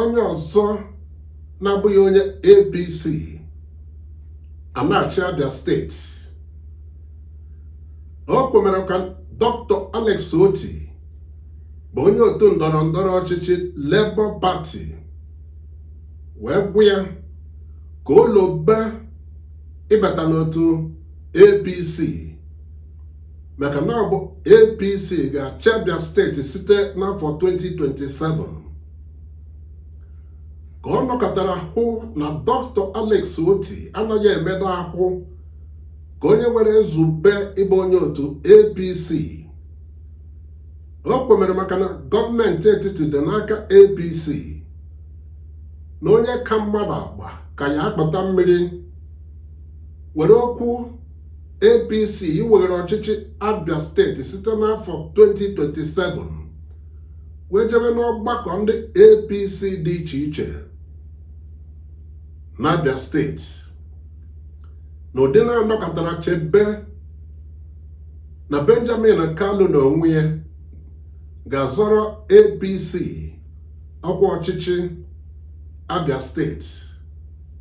onye ọzọ na-abụghị onye APC a na-achị Abia steeti o kwomere ka Dr. Alex Otti bụ onye otu ndọrọ ndọrọ ọchịchị Labour Party wee gwa ya ka o lobe ịbata n'otu APC maka na ọ bụ APC ga-achị Abia steeti site n'afọ 2027 ka ọ nọkatara hụ na dọkịta Alex Otti anaghị emedo ahụ ka onye nwere nzube ịbụ onye otu APC o kwomere maka na gọọmenti etiti dị n'aka APC na onye ka mmadụ agba ka ya akpata mmiri were okwu APC iweghere ọchịchị Abia steeti site n'afọ 2027 wee jebe n'ọgbakọ ndị APC dị iche iche n'Abia steeti n'ụdị na a nọkatara chebe na Benjamin Kalu n'onwe ya ga-azọrọ APC ọkwa ọchịchị Abia steeti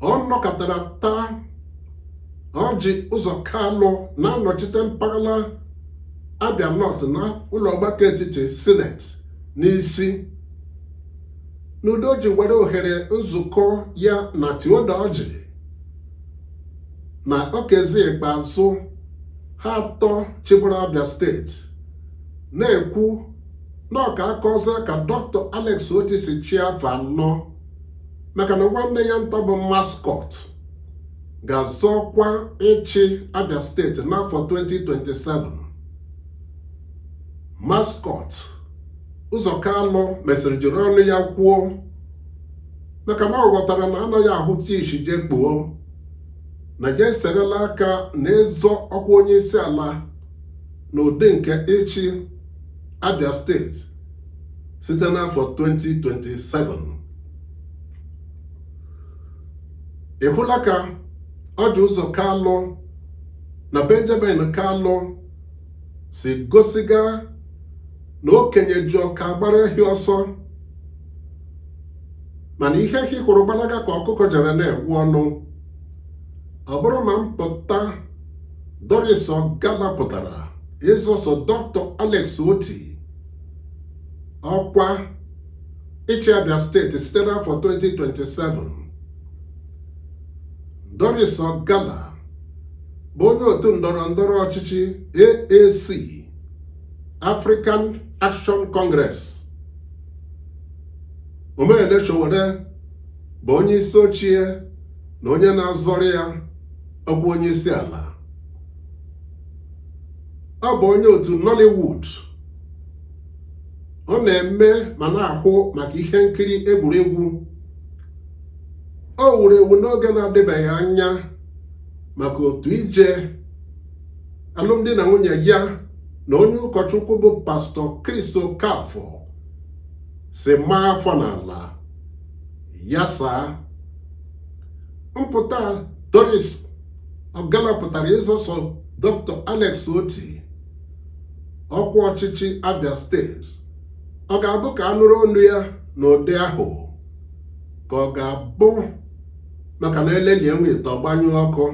ọ nọkatara taa Orji Uzor Kalu na-anọchite mpaghara Abia North n'ụlọ ọgbakọ etiti sineti n'isi n'ụdị o ji were ohere nzukọ ya na Theodore Orji na Okezie Ikpeazu ha atọ chịburu Abia steeti na-ekwu na ọka aka ọzọ ka dọkịta Alex Otti si chịa afọ anọ maka na nwanne ya nta bụ Mascot ga-azọ ọkwa ịchị Abia steeti n'afọ 2027 Mascot Uzor Kalu mesịrị jiri ọnụ ya kwuo maka na ọ ghọtara na a naghị ahụcha isi jee kpuo na ya eserela aka na ịzọ ọkwa onye isi ala n'ụdị nke ịchị Abia steeti site n'afọ 2027 ị hụla ka Orji Uzor Kalu na Benjamin Kalu si gosiga na okenye ji ụka agbara ehi ọsọ mana ihe ehi hụrụ gbalaga ka ọkụkọ jere na-egbu ọnụ ọ bụrụ na mpụta Doris Ogala pụtara ịzọso dọkịta Alex Otti ọkwa ịchị Abia steeti site n'afọ 2027 Doris Ogala bụ onye otu ndọrọ ndọrọ ọchịchị AAC African Action Congress Omoyele Sowore bụ onye isi oche na onye na-azọrọ ya ọkwa onye isi ala ọ bụ onye otu Nollywood ọ na-eme ma na-ahụ maka ihe nkiri egwuregwu o wuru ewu n'oge na-adịbeghị anya maka otu ije alụmdi na nwunye ya na onye ụkọchukwu bụ pastọ Chris Okafor si maa afọ n'ala ya saa mpụta Doris Ogala pụtara ịzọsọ Dr. Alex Otti ọkwa ọchịchị Abia steeti ọ ga-abụ ka a nụrụ olu ya n'ụdị ahụ ka ọ ga-abụ maka na e lelie nwa ite ọ gbanyụọ ọkụ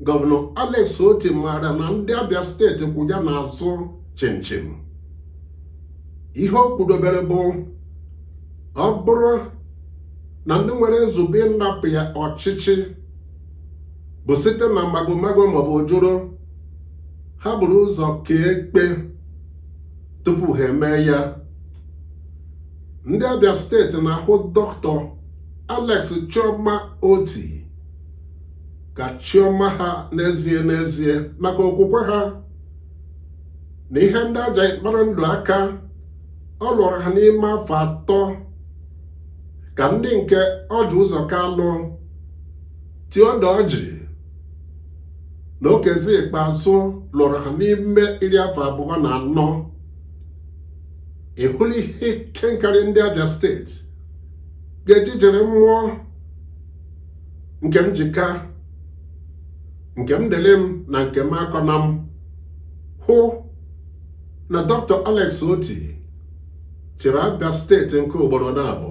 gọvanọ Alex Otti maara na ndị Abia steeti kwụ ya n'azụ chịmchịm ihe o kwudobere bụ ọ bụrụ na ndị nwere nzube ịnapụ ya ọchịchị bụ site na magomago maọbụ ojoro ha buru ụzọ kee ekpe tupu ha emee ya ndị Abia steeti na-ahụ dọkịta Alex Chioma Otti ka chi ọma ha n'ezie n'ezie maka okwukwe ha na ihe ndị a ga-eji kpara ndụ aka ọ lụrụ ha n'ime afọ atọ ka ndị nke Orji Uzor Kalu Theodore Orji na Okezie Ikpeazu lụrụ ha n'ime iri afọ abụọ na anọ ị hụla ihe ike nkarị ndị Abia steeti ga-eji jiri mmụọ nke m ji ka nke m dịlị m na nke m akọna m hụ na Dr. Alex Otti chịrị Abia steeti nke ugboro naabọ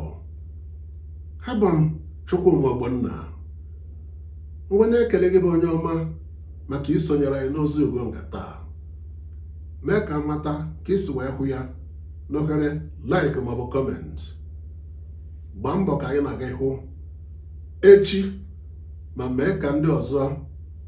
abụ m Chukwuma Ogbonna wee na-ekele gị bụ onye ọma maka isonyere anyị n'ozi ugo nke taa mee ka a mata ka i si wee hụ ya n'ohere like maọbụ kọment gbaa mbọ ka anyị na gị hụ echi ma mee ka ndị ọzọ